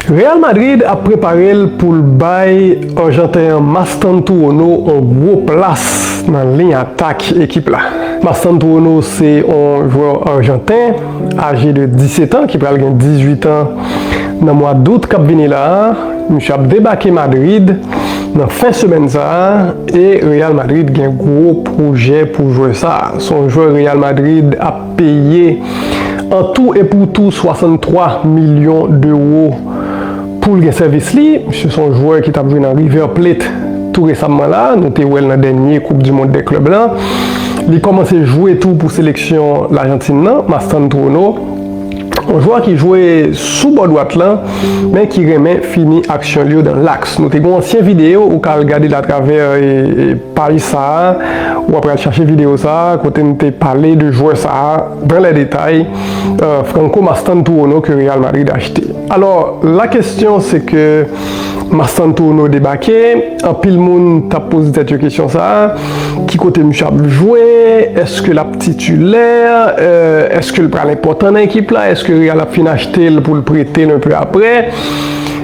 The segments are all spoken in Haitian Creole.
Real Madrid ap prepare l pou l bay arjanten an Mastantuono on gwo plas nan liy atak ekip la. Mastantuono se on jwè arjanten aje de 17 an ki pral gen 18 an nan mwa dout kap vini la a. Misye ap debake Madrid nan fen semèn sa a e Real Madrid gen gwo pwojè pou jwè sa a. Se on jwè Real Madrid ap. peye an tou e pou tou 63 milyon dewo pou l gen sèvis li. Misye se yon jwè ki t ap jwe nan River Plate tou resamman la, nou te wè l nan dènye koup di mond dè klèb la. Li kòmanse jwe tou pou seleksyon Lajantin nan, Mastantuono. Yon jwè ki jwe sou bò dwat lan men ki renmen fini aksyon l yo dan laks. Nou te gen yon ansyen videyo ou ka al gade l atravè paj sa a, ou ap al chache videyo sa a kote n te pale de jwè sa a dan lè detay, Franco Mastantuono ke Real Madrid achte. Alò, la kesyon se ke Mastantuono debake, anpil moun t ap poze tèt yo kesyon sa a, ki kote misye ap jwe, èske l ap. Titilè, eske l pral enpòtan nan ekip la, eske Real ap fin achte l pou l prete l enpe aprè?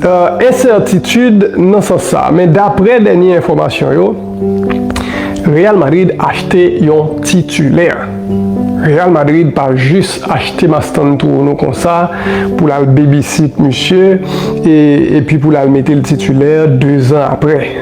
Ensètitid nan sans sa. Men daprè dènye enfòmasyon yo, Real Madrid achte yon titilè. Real Madrid pa jis achte Mastan Touounou konsa pou l al bebisit misye epi pou l al mete l titilè dezan aprè.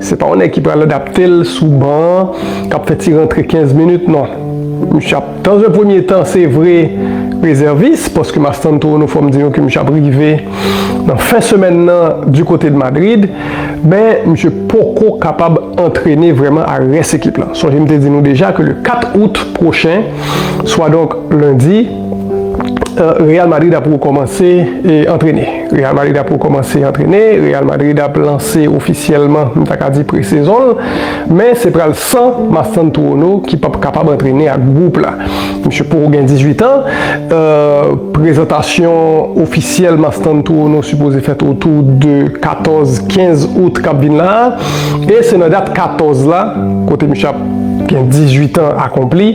Se pa yon nèg ki pral adapte l sou ban an, k ap fè ti rantre 15 minit non. Misye ap dans un premye tan se vre rezèvis paske Mastanto nou fò m di nou ke misye ap rive nan fen semèn nan di kote de Madrid men misye poko kapab antrene vrèman a rès ekip la. Sonje m te di nou deja ke le 4 out pwochen swadonk lendi, Real Madrid ap rekòmanse antrene Real Madrid ap rekòmanse antrene Real Madrid ap lanse ofisyèlman m ta ka di pre-sezon l men se pral san Mastantuono ki p ap kapab antrene ak gwoup la misye poko gen 18 an prezantasyon ofisyèl Mastantuono sipoze fèt otou de 14, 15 out k ap vin la a e se nan dat 14 la kote misye ap gen 18 an akonpli.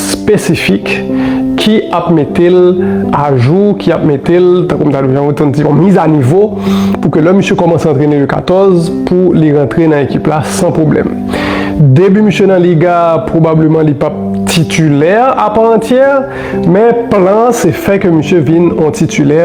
spesifik ki ap mete l ajou, ki ap mete l, tankou m ta di, jan yo konn di, yon mizanivo, pou ke lè misye kòmanse antrene U 14, pou li rantre nan ekip la san pwoblèm. Debi misye nan Liga, pwobableman li p ap titilè a pa antyè, men plan an se fè ke misye vin yon titilè,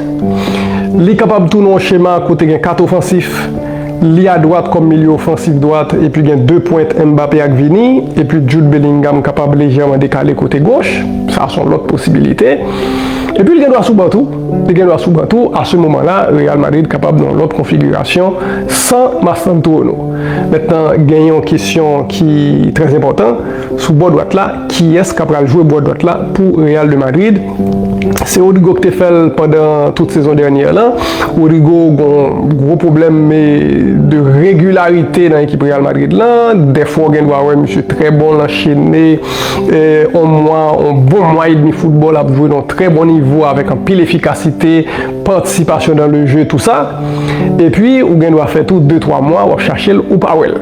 Li kapab tou nan yon chema kote gen 4 ofansif, li a dwat kòm milye ofansif dwat epi gen 2 pwent Mbappé ak Vini, epi Jude Bellingham kapab lejèman dekale kote goch, sa son lòt posibilite. Epi li gen dwa sou ban tou, li gen dwa sou ban tou, a se moman la Real Madrid kapab nan yon lòt konfigirasyon san Mastantuono. Mentnan gen yon kesyon ki trè enpòtan. Sou bò dwat la, kiyès ka pral jwe bò dwat la pou Real de Madrid? Se Rodrygo ki te fè l pandan tout sezon dènyè lan. Rodrygo gon gwo pwoblèm de regilarite nan ekip Real Madrid lan. Dèfwa w gen dwa wè misye trè bon, l anchene on mwa, on bon mwa edmi foutbòl ap jwe nan on trè bon nivo avèk anpil efikasite, patisipasyon dan le je, tou sa. Epi ou gen dwa fè tou de twa mwa w ap chache l, ou pa wè l.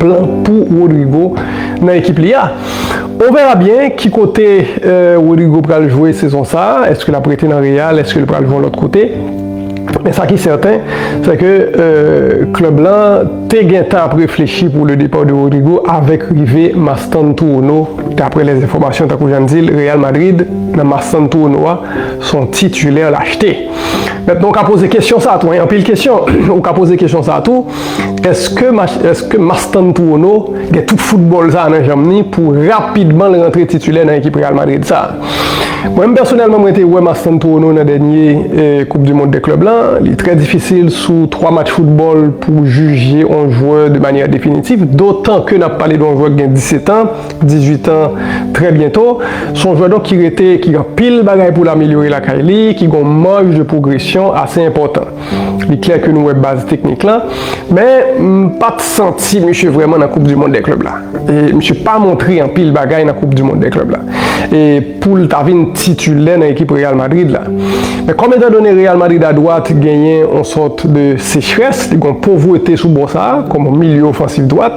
plan pou Rodrygo nan ekip li a. On verra bien ki kote Rodrygo pral jwe sezon sa, eske lap rete nan Real, eske li pral jwe yon lòt kote. Men sa ki sèten, se ke klèb lan te gentan ap reflechi pou le départ de Rodrygo avèk rive Mastantuono, daprè les informations tankou jan n di l, Real Madrid nan Mastantuono a, se yon titulaire l achte. Mètnan ou ka poze kesyon sa tou, anpil kesyon, ou ka poze kesyon sa tou. Eske Mastantuono gen tout foutbòl sa nan janm li pou rapidman l rantre titilè nan ekip Real Madrid sa? Mwen menm pèsonèlman mwen te wè Mastantuono nan dènye koup du mond dè klèb lan, li trè difisil sou 3 match foutbòl pou w jije on jwè de manyè definitif, dotan ke n ap pale de on jwè ki gen 17 an, 18 an trè byento. S on jwè donk ki rete, ki gen anpil bagay pou l amelyore lakay li, ki gen on marge de progression ase enpòtan. Li klè ke nou wè baz teknik lan, men m pa t santi misye vrèman nan koup di mond dè klèb la. E misye pa montre anpil bagay nan koup di mond dè klèb la e pou l ta vin titilè nan ekip Real Madrid la. Men kòm etan done Real Madrid a dwat genyen yon sòt de sechrès, li gen yon povrete sou bò sa a kòm milieu ofansif dwat,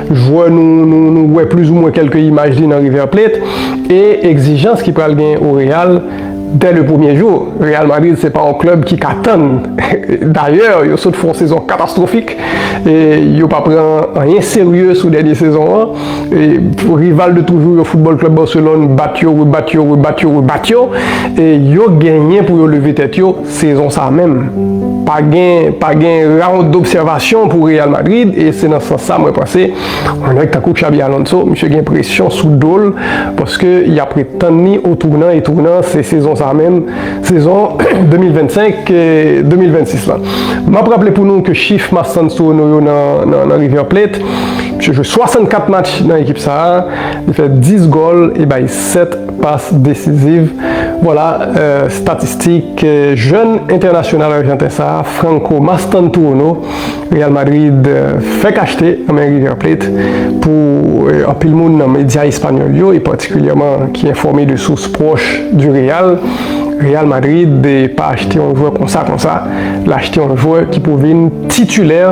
Jwè nou wè plizoumwen kèlke imaj li nan River Plate e egzijans ki pral gen o Real dè le premye jou. Real Madrid se pa yon klèb ki ka tann. Dayè, yo sot fè yon sezon katastwofik e yo pa pran anyen serye sou dènye sezon an. Rival de toujou yo Football Club Barcelone bat yo, rebat yo, rebat yo, rebat yo e yo genyen pou yo leve tèt yo. Sezon sa menm, pa gen pa gen round d'observation pou Real Madrid e se nan sans sa mwen panse yon nèg tankou Xabi Alonso misye gen presyon sou do l paske y ap ret tann li o tounan e tounan se sezon sa menm, sezon 2025, 2026 lan. M ap raple pou nou ke chif Marc-Hans Sorono yo nan River Plate, misye jwe 64 match nan ekip sa, li fè 10 gòl e bay 7 Pas decisive, Vwala statistik jèn entènasyonal arjanten sa a, Franco Mastantuono, Real Madrid fèk achte nan men River Plate. Pou anpil moun nan medya espanyòl yo, e patikilyèman ki enfòme de sous pwòch di Real, Real Madrid pa achte yon jwè konsa konsa, l achte yon jwè ki pou vin titilè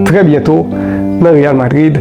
trè byento nan Real Madrid.